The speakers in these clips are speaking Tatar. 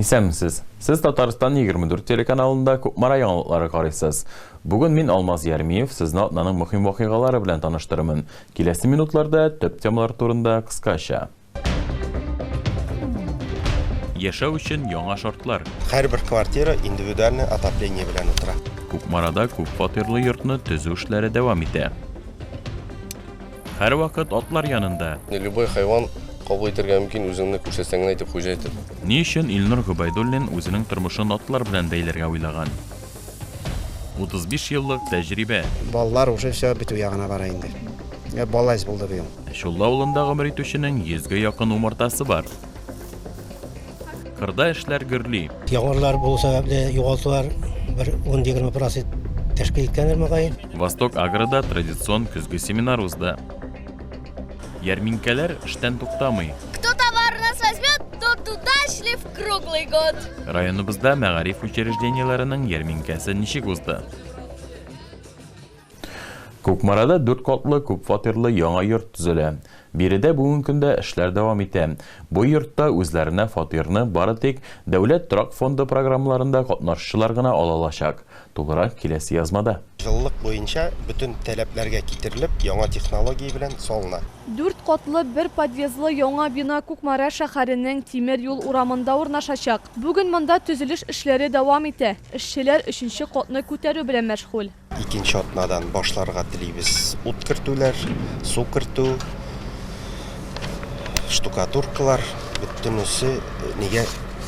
Исәнмесез! Сез Татарстан 24 телеканалында Кукмара яңалыклары карыйсыз. Бүген мин, Алмаз Ярмиев, сезне атнаның мөһим вакыйгалары белән таныштырырмын. Киләсе минутларда төп темалар турында кыскача. Яшәү өчен яңа шартлар. Һәрбер квартира индивидуальный отопление белән утыра. Кукмарада күпфатирлы йортны төзү эшләре дәвам итә. Һәрвакыт атлар янында. Любой хайван кабул итәргә мөмкин, үзеңне күрсәтсәң генә, дип хуҗа әйтер. Ни өчен Илнур Гобәйдуллин үзенең тормышын атлар белән бәйләргә уйлаган? 35 еллык тәҗрибә. Балалар уже все бетү ягына бара инде. Ә бала әз булды быел. Чулла авылында гомер итүченең йөзгә якын умартасы бар. Кырда эшләр гөрли. Яңгырлар булу сәбәпле югалтулар бер 10-20 процент тәшкил иткәндер мөгаен. Восток Агрода традицион көзге семинар узды. Ярминкәләр эштән туктамый. Кто товар нас возьмет, тот удачлив круглый год. Районыбызда мәгариф учреждениеләренең ярминкәсе ничек узды? Кукмарада дүрт катлы күп фатирлы яңа йорт төзелә. Биредә бүген көндә эшләр дәвам итә. Бу йортта үзләренә фатирны бары тик Дәүләт торак фонды программаларында катнашучылар гына ала алачак. Тулырак киләсе язмада. Җылылык буенча бөтен таләпләргә китерелеп, яңа технология белән салына. Дүрт катлы, бер подъездлы яңа бина Кукмара шәһәренең Тимер юл урамында урнашачак. Бүген монда төзелеш эшләре дәвам итә, эшчеләр өченче катны күтәрү белән мәшгуль. Икенче атнадан башларга телибез ут кертүләр, су кертү, штукатуркалар, бөтенесе нигә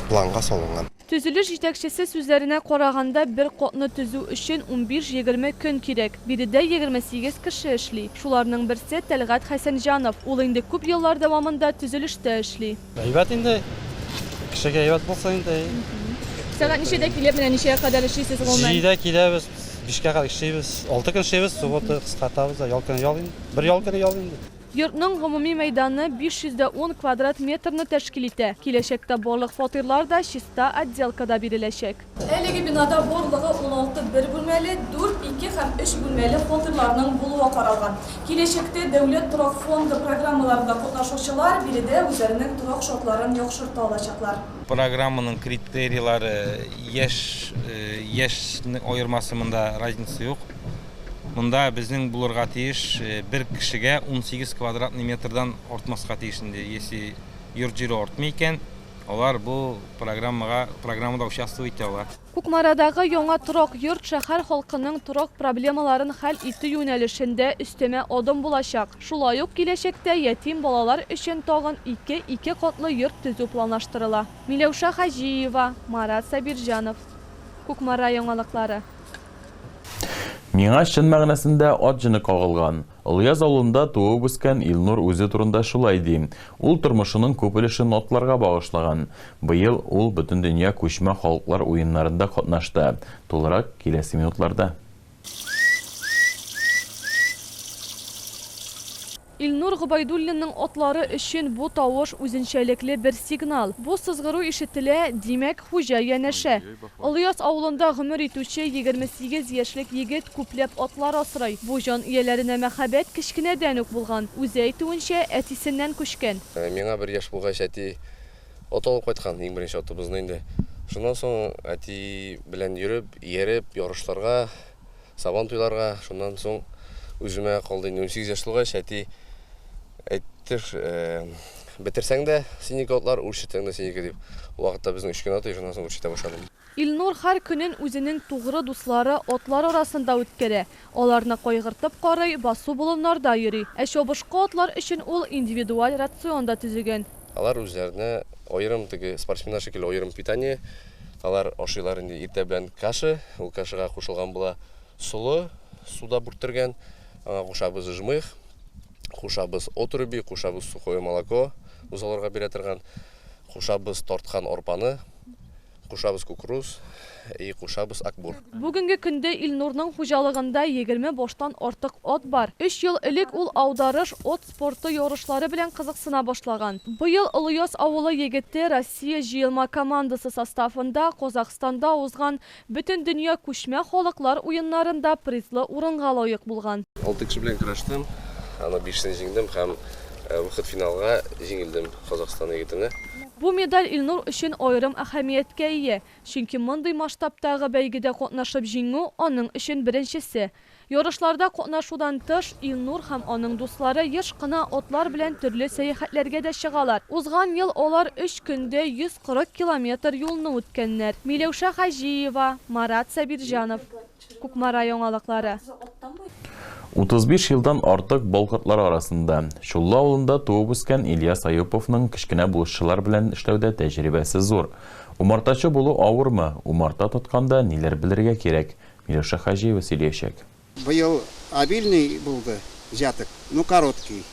планга салынган. Төзелеш җитәкчесе сүзләренә караганда, бер катны төзү өчен унбиш-егерме көн кирәк. Биредә егерме сигез кеше эшли. Шуларның берсе, Тәлгать Хәсәнҗанов. Ул инде күп еллар дәвамында төзелештә эшли. Әйбәт инде. Кешегә әйбәт булса инде. Сәгать ничәдә килеп, менә ничәгә кадәр эшлисез гомумән? Җидедә киләбез, бишкә кадәр эшлибез. Алты көн эшлибез, суббота кыскартабыз да, ял көне ял инде. Бер ял көне ял инде. Йортның гомуми мәйданы 510 квадрат метрны тәшкил итә. Киләчәктә барлык фатирлар да чиста отделкада биреләчәк. Әлеге бинада барлыгы уналты бер бүлмәле, дүрт, ике һәм өч бүлмәле фатирларның булуы каралган. Киләчәктә Дәүләт торак фонды программаларында катнашучылар биредә үзләренең торак шартларын яхшырта алачаклар. Программаның критерийлары яшь, яшьнең аермасы монда разница юк. Монда безнең булырга тиеш бер кешегә унсигез квадратный метрдан артмаска тиеш инде, если йорт җире артмый икән. Алар бу программага программада участвовать итә ала. Кукмарадагы яңа торак йорт шәһәр халкының торак проблемаларын хәл итү юнәлешендә өстәмә адым булачак. Шулай ук киләчәктә ятим балалар өчен тагын ике ике катлы йорт төзү планлаштырыла. Миләүшә Хаҗиева, Марат Сабирҗанов. Кукмара яңалыклары. Миңа чын мәгънәсендә ат җене кагылган. Олыяз авылында туып-үскән Илнур үзе турында шулай ди. Ул тормышының күп өлешен атларга багышлаган. Быел ул Бөтендөнья күчмә халыклар уеннарында катнашты. Тулырак, киләсе минутларда. Илнур Гобәйдуллинның атлары өчен бу тавыш үзенчәлекле бер сигнал. Бу сызгыру ишетелә, димәк, хуҗа янәшә. Олыяз авылында гомер итүче егерме сигез яшьлек егет күпләп атлар асрый. Бу җан ияләренә мәхәббәт кечкенәдән үк булган. Үзе әйтүенчә, әтисеннән күчкән. Миңа бер яшь булгач, әти ат алып кайткан, иң беренче атыбызны инде. Шуннан соң әти белән йөреп, ияреп, ярышларга. Сабантуйларга, шуннан соң үземә калды инде. Унсигез яшь тулгач, әти әйтте, Бетерсәң дә синеке атлар, үрчетсәң дә синеке, дип. Ул вакытта безнең өч генә ат иде, шуннан соң үрчетә башладым. Илнур һәр көнен үзенең тугры дуслары, атлар арасында үткәрә. Аларны кайгыртып карый, басу-болыннарда йөри. Ә чабышкы атлар өчен ул индивидуаль рацион да төзегән. Алар үзләренә аерым, теге спортсменнар шикелле, аерым питание. Алар ашыйлар инде иртә белән каша. Ул кашага кушылган була солы, суда бүрттергән. Аңа кушабыз жмых, кушабыз отруби, кушабыз сухое молоко, бозауларга бирә торган. Кушабыз тарткан арпаны, кушабыз кукуруз и кушабыз акбур. Бүгенге көндә Илнурның хуҗалыгында егерме баштан артык ат бар. Өч ел элек ул Аударыш от спорты ярышлары белән кызыксына башлаган. Быел Олыяз авылы егете Россия җыелма командасы составында Казахстанда узган Бөтендөнья күчмә халыклар уеннарында призлы урынга лаек булган. Алты кеше белән көрәштем, аны бишесен җиңдем һәм выход финалга җиңелдем Казахстан егетенә. Бу медаль Илнур өчен аерым әһәмияткә ия, чөнки мондый масштабтагы бәйгедә катнашып җиңү, аның өчен беренчесе. Ярышларда катнашудан тыш, Илнур һәм аның дуслары еш кына атлар белән төрле сәяхәтләргә дә чыгалар. Узган ел алар өч көндә 140 километр юлны үткәннәр. Миләүшә Хаҗиева, Марат Сабирҗанов. Кукмара яңалыклары. 35 елдан артык болхотлар арасында, Чуллы авылында туып-үскән Ильяс Аюповның кечкенә булышчылар белән эшләүдә тәҗрибәсе зур. Умартачы булу авырмы, умарта тотканда ниләр белергә кирәк, Миләүшә Хаҗиева сөйләячәк. Быел обильный булды җәтек, ну короткий.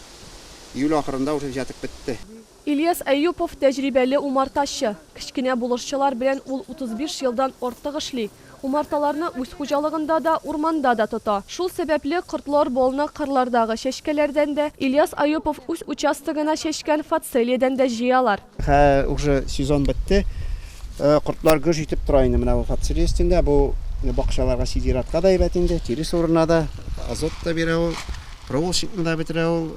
Июль ахырында уже җәтек бетте. Ильяс Әюпов, тәҗрибәле умартачы. Кечкенә булышчылар белән ул 35 елдан артык эшли. Умарталарны үз хуҗалыгында да, урманда да тота. Шул сәбәпле, кортлар балны кырлардагы чәчкәләрдән дә, Ильяс Әюпов үз участогына чәчкән фацелиядән дә җыялар. Хә, уже сезон бетте. Кортлар гөж итеп тора инде менә бу фацелия өстендә. Бу бакчаларга сидератка да әйбәт инде, тирес урынына да, азот та бирә ул, проволочникны да бетерә ул.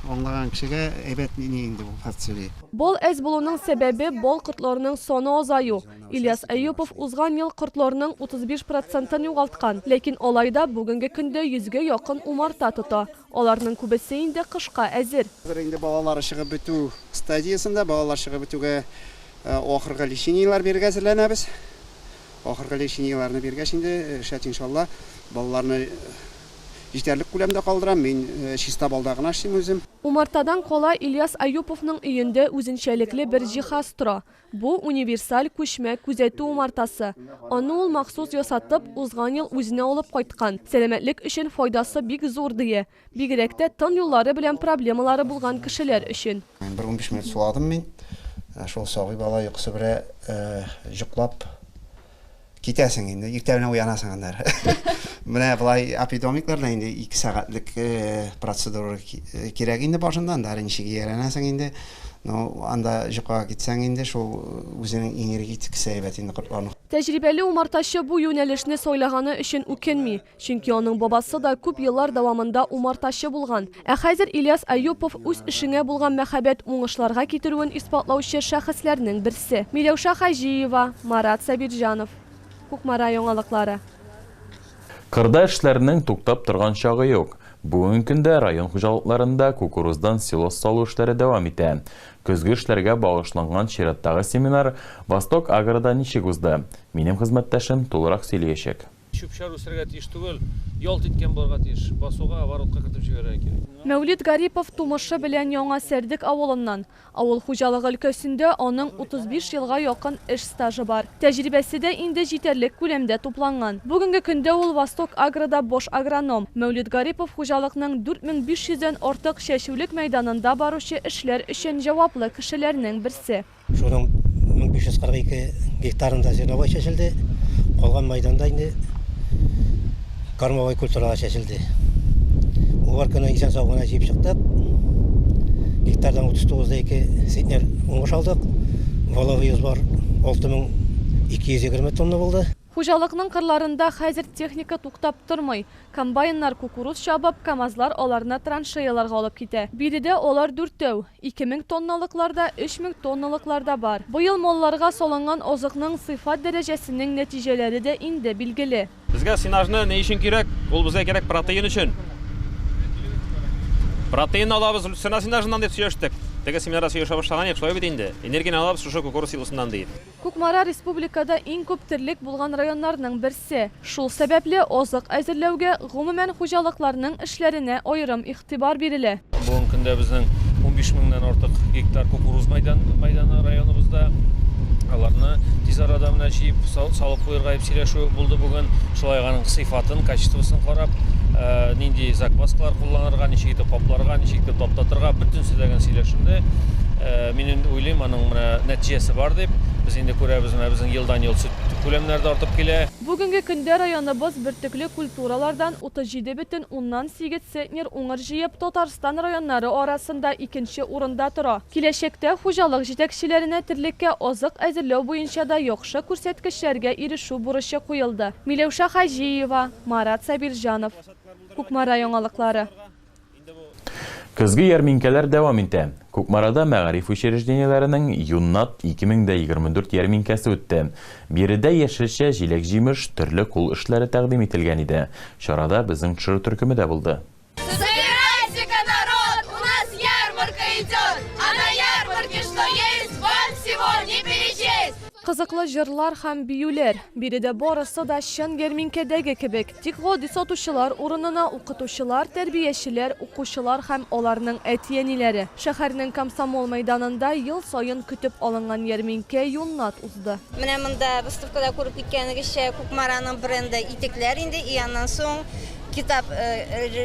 Аңлаган кешегә әйбәт мени инде бу фацелия. Бал әз булуның сәбәбе, бал кортларының саны азаю. Ильяс Әюпов узган ел кортларның 35 процентын югалткан. Ләкин алай да бүгенге көндә йөзгә якын умарта тота. Аларның күбесе инде кышка әзер. Хәзер инде балалар чыгып бетү стадиясендә. Балалар чыгып бетүгә ахыргы лечениеләр бирергә әзерләнәбез. Ахыргы лечениеләрне биргәч инде, шәт иншалла, балаларны җитәрлек күләмдә калдырам. Мин чиста балда гына эшлим үзем. Умартадан кала Ильяс Аюповның өендә үзенчәлекле бер җиһаз тора. Бу, универсаль күчмә күзәтү умартасы. Аны ул махсус ясатып, узган ел үзенә алып кайткан. Сәламәтлек өчен файдасы бик зур, ди. Бигрәк тә тын юллары белән проблемалары булган кешеләр өчен. Бер унбиш минут суладым мин. Шул сабый бала йокысы белән җоклап. Китәсең инде, иртә белән уянасың аннары. Менә болай апидомикларда инде 2 сәгатьлек э, процедура э, кирәк инде башында, анда ничек ияләнәсең инде. Ну, анда җокага китсәң инде шул э, үзенең энергетикасы әйбәт инде кортларның. Тәҗрибәле умартачы бу юнәлешне сайлаганы өчен үкенми. Чөнки аның бабасы да күп еллар дәвамында умартачы булган. Ә хәзер Ильяс Әюпов үз эшеңә булган мәхәббәт уңышларга китерүен исбатлаучы шәхесләрнең берсе. Миләүшә Хаҗиева, Марат Сабирҗанов. Кукмара яңалыклары. Кырда эшләрнең туктап торган чагы юк. Бүген көндә район хуҗалыкларында кукуруздан силос салу эшләре дәвам итә. Көзге эшләргә багышланган чираттагы семинар Восток-Агрода ничек узды? Минем хезмәттәшем тулырак сөйлиячәк. Чүп-чар үсәргә тиеш түгел, ялт иткән булырга тиеш. Басуга, оборотка кертеп җибәрергә кирәк. Мәүлит Гарипов тумышы белән Яңа Сәрдек авылыннан. Авыл хуҗалыгы өлкәсендә аның 35 елга якын эш стажы бар. Тәҗрибәсе дә инде җитәрлек күләмдә тупланган. Бүгенге көндә ул Восток-Агрода баш агроном. Мәүлит Гарипов хуҗалыкның 4500 дән артык чәчүлек мәйданында баручы эшләр өчен җаваплы кешеләрнең берсе. Шуның 1542 гектарында зерновой чәчелде, калган мәйданда инде кормовой культуралар чәчелде. Уборканы исән-сау гына җыеп чыктык. Гектардан 39,2 центнер уңыш алдык. Валовый сбор 6220 тонна булды. Хуҗалыкның кырларында хәзер техника туктап тормый. Комбайннар кукуруз чабып, КАМАЗлар аларны траншеяларга алып китә. Биредә алар дүртәү, ике мең тонналыклар да, өч мең тонналыклар да бар. Быел малларга салынган азыкның сыйфат дәрәҗәсенең нәтиҗәләре дә инде билгеле. Безгә сенажны ни өчен кирәк? Ул безгә кирәк протеин өчен. Протеинны алабыз люцерна сенажыннан, дип сөйләштек. Теге семинарда сөйләшә башлаган идек, шулай бит инде? Энергияне алабыз шушы кукуруз силосыннан, ди. Кукмара республикада иң күп терлек булган районнарның берсе. Шул сәбәпле, азык әзерләүгә, гомумән, хуҗалыкларның эшләренә аерым игътибар бирелә. Бүгенге көндә безнең унбиш меңнән артык гектар кукуруз мәйданы районыбызда. Аларны тиз арада менә җыеп, салып куерга дип сөйләшү булды бүген. Шулай ук аның сыйфатын, качествосын карап, нинди закваскалар кулланырга, ничек итеп капларга, ничек итеп таптатырга, бөтенесе дә генә сөйләшенде. Мин инде уйлыйм, аның менә нәтиҗәсе бар дип. Без инде күрәбез, менә безнең елдан-ел сөт күләмнәре дә артып килә. Бүгенге көндә районыбыз бөртекле культуралардан 37 бөтен уннан сигез центнер уңыр җыеп, Татарстан районнары арасында икенче урында тора. Киләчәктә хуҗалык җитәкчеләренә терлеккә азык әзерләү буенча да яхшы күрсәткечләргә ирешү бурычы куелды. Миләүшә Хаҗиева, Марат Сабирҗанов. Кукмара яңалыклары. Көзге ярминкәләр дәвам итә. Кукмарада мәгариф учреждениеләренең Юннат 2024 ярминкәсе үтте. Биредә яшелчә, җиләк-җимеш, төрле кул эшләре тәкъдим ителгән иде. Чарада безнең төшерү төркеме дә булды. Собирайтеся, народ, у нас ярмарка идет, а на ярмарке что есть, вам всего не перечесть! Кызыклы җырлар һәм биюләр. Биредә барысы да чын ярминкәдәге кебек. Тик гади сатучылар урынына укытучылар, тәрбиячеләр, укучылар һәм аларның әти-әниләре. Шәһәрнең Комсомол мәйданында ел саен көтеп алынган ярминкә юннат узды. Менә монда, выставкада күреп киткәнегезчә, Кукмараның бренды итекләр инде. И аннан соң китап,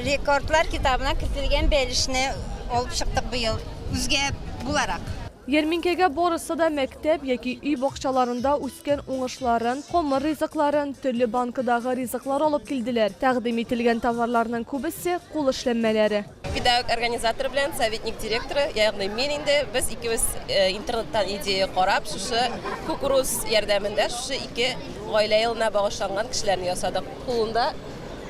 рекордлар китабына кертелгән бәлешне алып чыктык быел, үзгә буларак. Ярминкәгә барысы да мәктәп яки өй бакчаларында үскән уңышларын, камыр ризыкларын, төрле банкадагы ризыклар алып килделәр. Тәкъдим ителгән товарларның күбесе, кул эшләнмәләре. Педагог организатор белән советник директоры, ягъни мин инде, без икебез интернеттан идея карап, шушы кукуруз ярдәмендә шушы ике гаилә елына багышланган кешеләрне ясадык. Кулында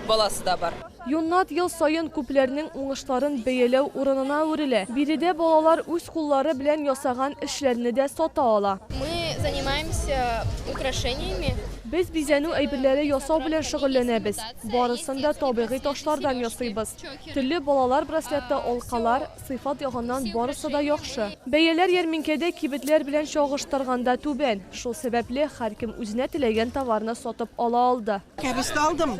баласы да бар. Юннат ел саен күпләрнең уңышларын бәяләү урынына әверелә. Биредә балалар үз куллары белән ясаган эшләрне дә сата ала. Мы занимаемся украшениями. Без бизәнү әйберләре ясау белән шөгыльләнәбез. Барысын да табигый ташлардан ясыйбыз. Телле балалар браслеты, алкалар, Сыйфат ягыннан барысы да яхшы. Бәяләр ярминкәдә кибетләр белән чагыштырганда түбән. Шул сәбәпле, һәркем үзенә теләгән товарны сатып ала алды. Кәбестә алдым,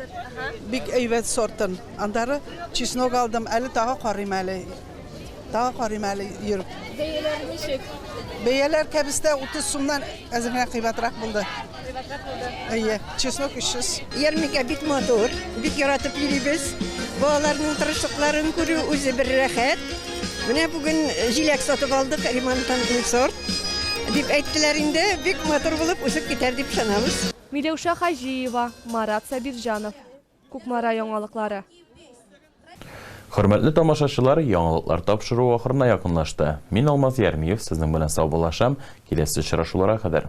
бик әйбәт сортын. Аннары чеснок алдым, әле тагы карыйм әле. Тагы карыйм әле йөреп. Бәяләр ничек? Бәяләр кәбестә 30 сумнан әзеренә кыйбатрак булды. Әйе, чеснок 300. Ярминкә бик матур, бик яратып йөрибез. Балаларның тырышлыкларын күрү үзе бер рәхәт. Менә бүген э, җиләк сатып алдык, ремонттан сорт. Дип әйттеләр инде, бик матур булып үсеп китәр дип ышанабыз. Миләүшә Хаҗиева, Марат Сабирҗанов. Кукмара яңалыклары. Хөрмәтле тамашачылар, яңалыклар тапшыру ахырына якынлашты. Мин Алмаз Ярмиев сезнең белән саубуллашам, киләсе очрашулара кадәр.